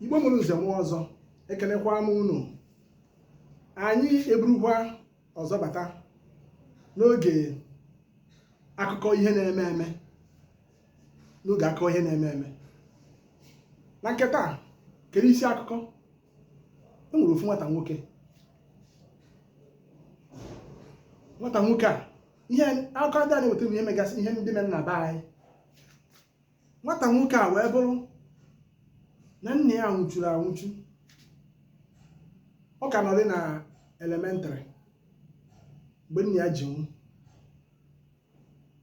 igbo mụrụ nze mụọ ọzọ ekenekwa m unu anyị eburukwa ọzọ bata n'oge akụkọ ihe na-eme eme n'oge akụkọ ihe na-eme eme na nke taa kedu isi akụkọ e nwere ofu nwata nwoke nwata nwoke a ihe akụkọ ndị a na-eweta ihe megasị ihe ndị mere na be anyị nwata nwoke a wee bụrụ na nna ya nwụchuru anwụchu ọ ka nọrị na elementrị mgbe nna ya ji nwụ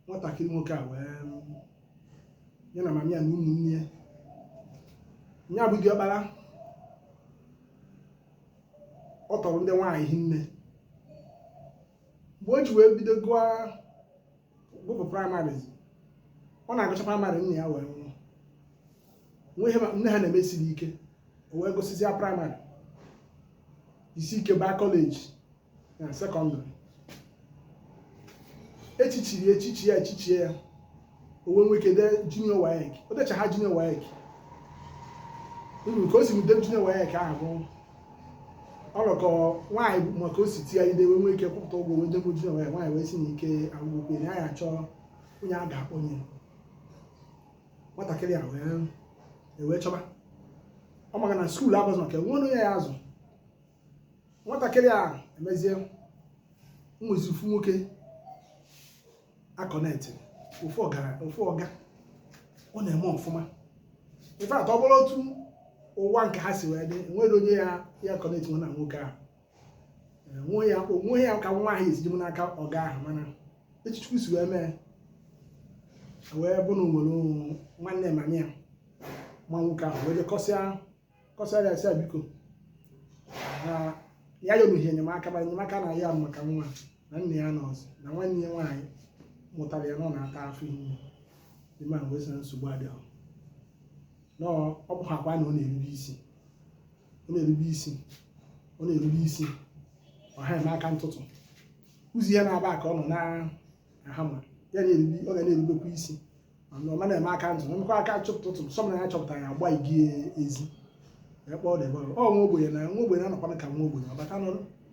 nwatakịrị nwoke a wee ya na mama ya na ụmụnne ya ya bụ diọkpara ọ tọrọ ndị nwaanyị hinne mgbe o ji wee bido gụọ gụpụ praịmarị ọ na-agụcha praịmarị nna ya wee nwụọ nne ha na-emesiri ike o wee gụsịzịa praịmarị jisi ike baa kọleji na sekọndịrị echichiri ya echichi ya echichie ya o wee nwee ike dee junior waec o decha ha junior waec even ka o si dee junior waec ahụ bụ ọlọkọ nwaanyị ahụ ma ka o si tie ide wee nwee ike kwụpụta ụgwọ wee debe junior waec nwaanyị wee sị na ike agwụgwo ka ya chọọ onye a ga-akpọnye nwatakịrị a e wee chọba ọ maka na skuul abụzị maka enwe onye ya-azụ nwatakịrị a emezie nwezi ofu nwoke a connect ofu ọga ọ na-eme ọfụma in fact ọ bụrụ otu ụwa nke a si wee dị enwerọ onye ya-aconnect na nwoke ahụ onwe ya ka nwa ahụ esi jibụ n'aka ọga ahụ mana etu chukwu si wee mee o wee bụrụ na o nwere nwanne mama ya ma nwoke ahụ wee jee kọsịa kọsara ya sị ya biko na ya yorughị enyemaka ma enyemaka na ya maka nwa na nne ya nọọsụ na nwanne ya nwaanyị mụtara ya na ọ na-ata afụfụ man ahụ wee sị na nsogbu adịghị na ọ bụhakwa na ọ na-erube isi ọ na-erube isi ọ ha eme aka ntụtụ ụzi ya na-aba ka ọ nọ na-ahama ya ọ ga na-erubekwa isi ọ ma na-eme aka ntụtụ nwekwa aka chụpụtụtụ sọ na ya chọpụtara ya agba igi ezi ekpe ọ debe ọ nwa ogbenye na nwa ogbenye anọkwana ka nwa ogbenye ọ bata nọ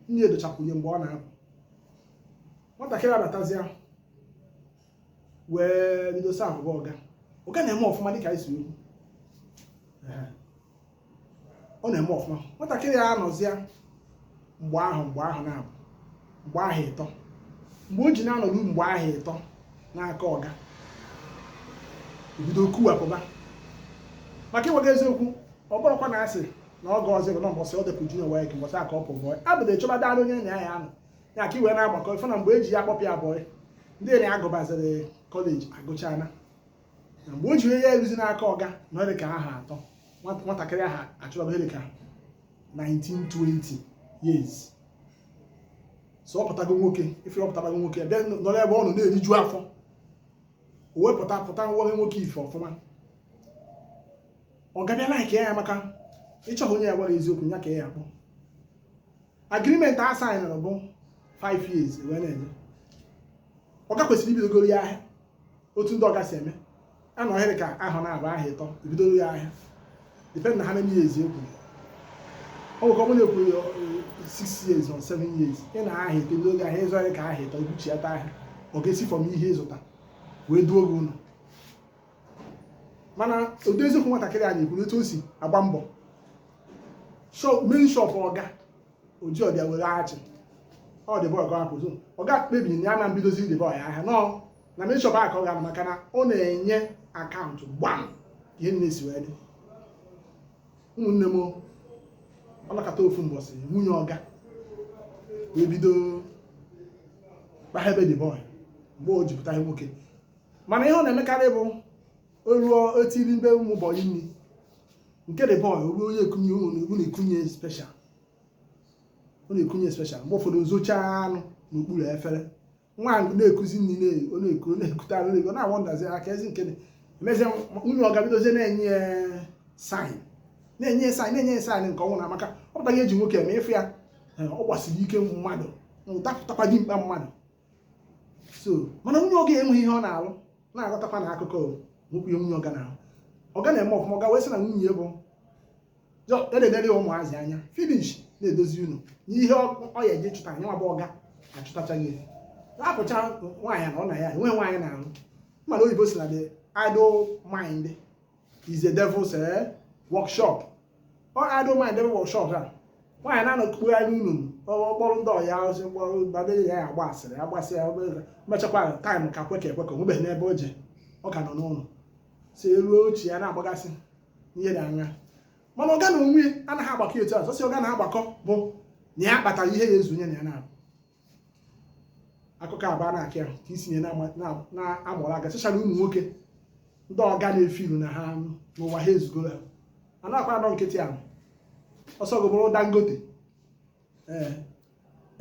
nne edochakwunye mgbe ọ na-apụ nwatakịrị abatazịa wee bido servụba ọga ọga na-eme ọfụma dịka anyị si kwuo ọ na-eme ọfụma nwatakịrị a anọzịa mgbe ahụ mgbe aha naabọ mgbe aha ịtọ mgbe o ji na-anọru mgbe aha ịtọ n'aka ọga o bido kuwapụba maka ịgwa gị eziokwu ọ bụrụkwa na asị na ọ ga ọzọ na mbọsị o depụ junior WAEC mbọsị a ka ọ pụ bọị abụda ịchọba dara onye na ya anọ ya ka iwe na-agbakọ ife na mgbe eji ya akpọpịa bọị ndị na agụbaziri kọleji agụchana mgbe o ji ya eruzi n'aka ọga na ọ dị ka aha atọ nwatakịrị ahụ achọrọ ihe dị ka 19 20 years so ọ pụtago nwoke ife ọ pụtago nwoke bịa nọrọ ebe ọ nọ na-eriju afọ o wepụta nwa nwoke ife ọfụma ọga bịa like ya maka ịchọghị onye ya gwara eziokwu ya ka ya akpọ agreement a saịnụrụ bụ 5 years wee na-enye ọga kwesịrị ibidogoro ya ahịa otu ndị ọga si eme a nọọ ihe ka aha naabọ aha ịtọ ibidoro ya ahịa depend na how many years ekwu ọ nwekọ mụ na-ekwu 6 years or 7 years ị nọọ aha ịtọ ibidoro ya ahịa ị zụọ ahịa ka aha ịtọ i buchiata ahịa ọga esi from ihe ị zụta wee duo gị ụlọ mana ụdị eziokwu nwatakịrị a na-ekwu etu o si agba mbọ main shop ọga oji ọbịa were achị ọ D-boy ga-akwụzụ ọga kpebiri na ya ama ebidozi D-boy ahịa nọ na main shop ahụ ka ọ ga-anọ maka na ọ na-enye akaụntụ gbam ihe niine si wee dị ụmụnne m ọ nọkata ofu mbọsị nwunye ọga wee bido kpaha ebe D-boy mgbe o jipụta ihe nwoke mana ihe ọ na-emekarị bụ o ruo etiribe ụmụ bọyị nri nke D-boy ruo onye ekunye ụmụ na-ekunye special ọ na-ekunye special mgbe ụfọdụ o zochie anụ n'okpuru efere nwaanyị na-ekuzi nri na-eku na-eku na-ekute anụ na-eku na-awọndazi aka ezi nke emezie nwunye ọga bidozie na-enye ya saịn na-enye ya saịn na-enye ya saịn nke ọnwụ na maka ọ pụta ihe eji nwoke eme ịfụ ya ọ gbasiri ike mmadụ dapụtakwa dimkpa mmadụ so mana nwunye ọga enweghị ihe ọ na-alụ na-aghọtakwa na akụkọ enwehụ ihe nwunye ọga na-alụ ọga na-eme ọfụma ọga wee sị na nwunye bụ eledere ya ụmụazị anya finish na-edozi ụnọ n'ihe ọ ya eji chụta na yanwa bụ ọga achụtachaghị ya apụcha nwaanyị na ọ na ya enweghị nwaanyị na-alụ mana oyibo sị na the idle mind is a devil's eh, workshop ọ idle mind devil workshop a nwaanyị na-anọkpugharị ụnọ ọ kpọrọ ndị ọya ozi kpọrọ babere ya agba asịrị agbasị ya mechakwa taịm ka kweka ekweka onwebeghị n'ebe o je ọ ka nọ n'ụlọ si eruo ochie ya na-agbagasị ihe dị anya mana ọga n'onwe anaghị agbakọ etu a sọsị ọga na-agbakọ bụ na ya kpatara ihe ya ezu onye na ya na-abụ akụkọ abụọ na-akị ahụ ka isinye na-amụrụ aka especially ụmụ nwoke ndị ọga na-efiilu na ha nwa ha ezugoro ha a na-akwa anọ nkịtị ahụ ọ sọ gị bụrụ dangote ee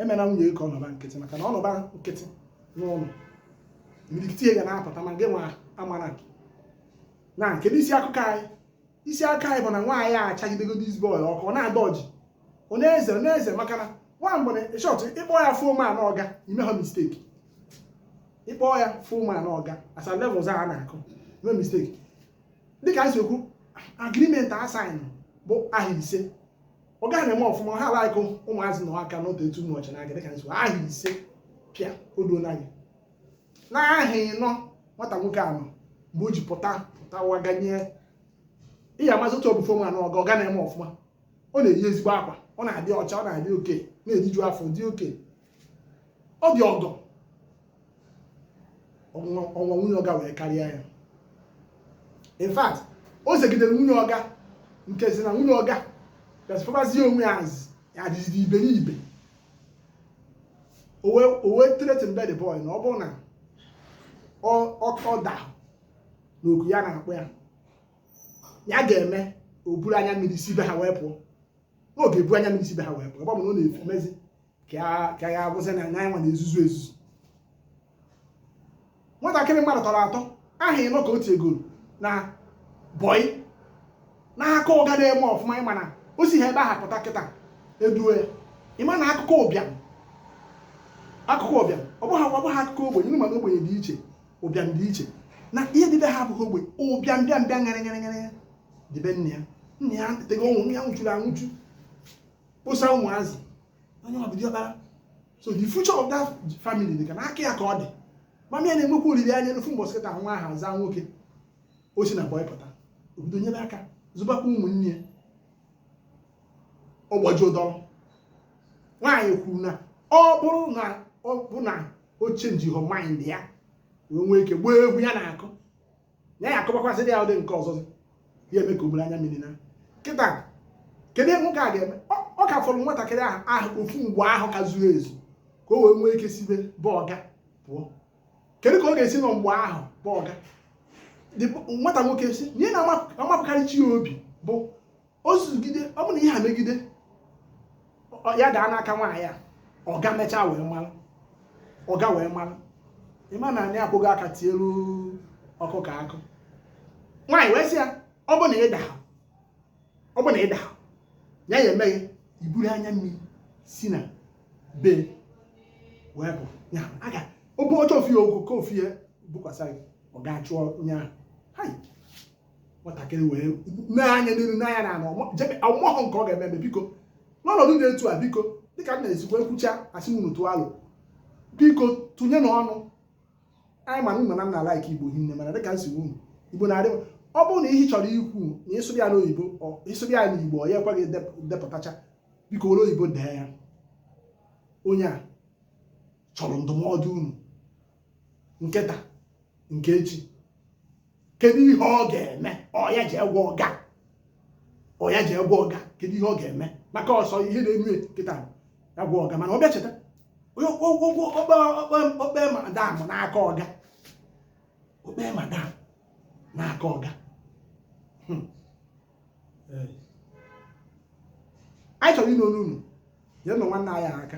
emena nwunye ka ọ nọba nkịtị maka na ọ nọba nkịtị n'ụlọ imirikiti ihe ga na-apụta ma gị nwa amara na kedu isi akụkọ anyị isi akụkọ anyị bụ na nwaanyị a achagidego dis boy ọkụ ọ na-adọji ọ na-eze ọ na-eze maka na nwa mgbe na shọt ịkpọ ya ọfụma na ọga i mehọ misteki ịkpọ ya ọfụma na ọga asa levels a na-akụ ime misteki dịka anyị si ekwu agrimenti a saịn bụ aha ise ọga gị na-eme ọfụma ha alaịkụ ụmụazị na aka n'otu etu ụbọchị na-aga dịka anyị si aha ise pịa o duo na gị n'aha ịnọ nwata nwoke ahụ mgbe o ji pụta pụtawa ganye ihe amazi otu ọ bụ fe nwa n'ọga ọga na-eme ọfụma ọ na-eyi ezigbo akwa ọ na-adị ọcha ọ na-adị okay na-eriju afọ dị okay ọ dị ọgọ ọnwa nwunye ọga wee karịa ya in fact o zegidere nwunye ọga nke si na nwunye ọga gasịpụbazie onwe ya adịzidị iberibe o wee tretinbe the boy na ọ bụrụ na ọ dahọ n'oku ya na-akpọ ya ya ga-eme o buru anya mmiri si be ha wee pụọ na ọ ga-ebu anya mmiri si be ha wee pụọ ebe ọ bụ na ọ na-achọ imezi ka ọ bụzi na ya nwa na-ezuzu ezuzu nwatakịrị mmadụ tọrọ atọ aha ịnọ ka o tiegoro na bọị n'aka ọga na-eme ọfụma ịma na o si ha ebe aha pụta kịta e duo ya ịma na akụkọ ụbịam akụkọ ụbịam ọ bụghị ọ bụghị akụkọ ogbenye unu ma na ogbenye dị iche ụbịam dị iche na ihe dị be ha abụghị ogbenye ụbịam bịa mbịa ngara ngara ngara ya dị be nna ya nna ya tego ọ nwụ nna ya nwụchuru anwụchu kposa ụmụazị onye ọ bụdị ọkpara so the future of that family dị ka n'aka ya ka ọ dị mama ya na-enwekwa olileanya na ofu mbọsị kịta nwa ahụ azaa nwoke o si na bọị pụta obodo nyere aka zụbakwa ụmụnne ya ọ gbajuo dọrọ nwaanyị kwuru na ọ bụrụ na ọ bụ na o chenjihọ mind ya wee nwee ike gbaa egwu ya na-akụ na ya akụbakwasịrị ya ụdị nke ọzọ ya eme ka o buru anya mmiri na kịta kedu ihe nwoke a ga-eme ọ ka fọrọ nwatakịrị ahụ ofu mgba ahọ ka o zuo ezu ka o wee nwee ike si be ọga pụọ kedu ka ọ ga-esi nọ mgba ahọ be ọga nwata nwoke sị ihe na-amapụkarị chi ya obi bụ o zugide ọ bụ na ihe a megide ya daa n'aka nwaanyị a ọga mechaa wee mara ọga wee mara ịma na anyị akwọghị aka tielu ọkụkọ akụ nwaanyị wee sị ya ọ bụ na ịda ọ bụ na ịda ya ya emeghị iburu anya mmiri si na be wee bụ ya aga obe ọjọọ ofi ya okwu ka ofi ya bukwasa gị ọ ga-achụ onye ahụ nwatakịrị wee na-anya n'iru n'anya na ọ mahụ nke ọ ga-eme eme biko n'ọnọdụ dị etu a biko dịka m na-esikwa ekwucha asị m tụọ alo biko tụnyenụ ọnụ anyị ma na unu na-alike igbo hinne mana dịka nsogbu unu igbo na-adị ọ bụrụ na ihe ị chọrọ ikwu na ịsụrụ ya n'oyibo ịsụrụ ya n'igbo ọ ya ekweghị edepụtacha biko were oyibo dee ya onye a chọrọ ndụmọdụ unu nke taa nke echi kedu ihe ọ ga-eme ọ ya jee gwa ọga ọ ya jee gwa ọga kedu ihe ọ ga-eme maka ọsọ ihe na-eme kịta ya gwa ọga mana ọ bịa cheta o kpee madam n'aka ọga o kpee madam n'aka ọga hmm. eh. anyị chọrọ ịnụ ọnụ unu nyenụ nwanne anyị aka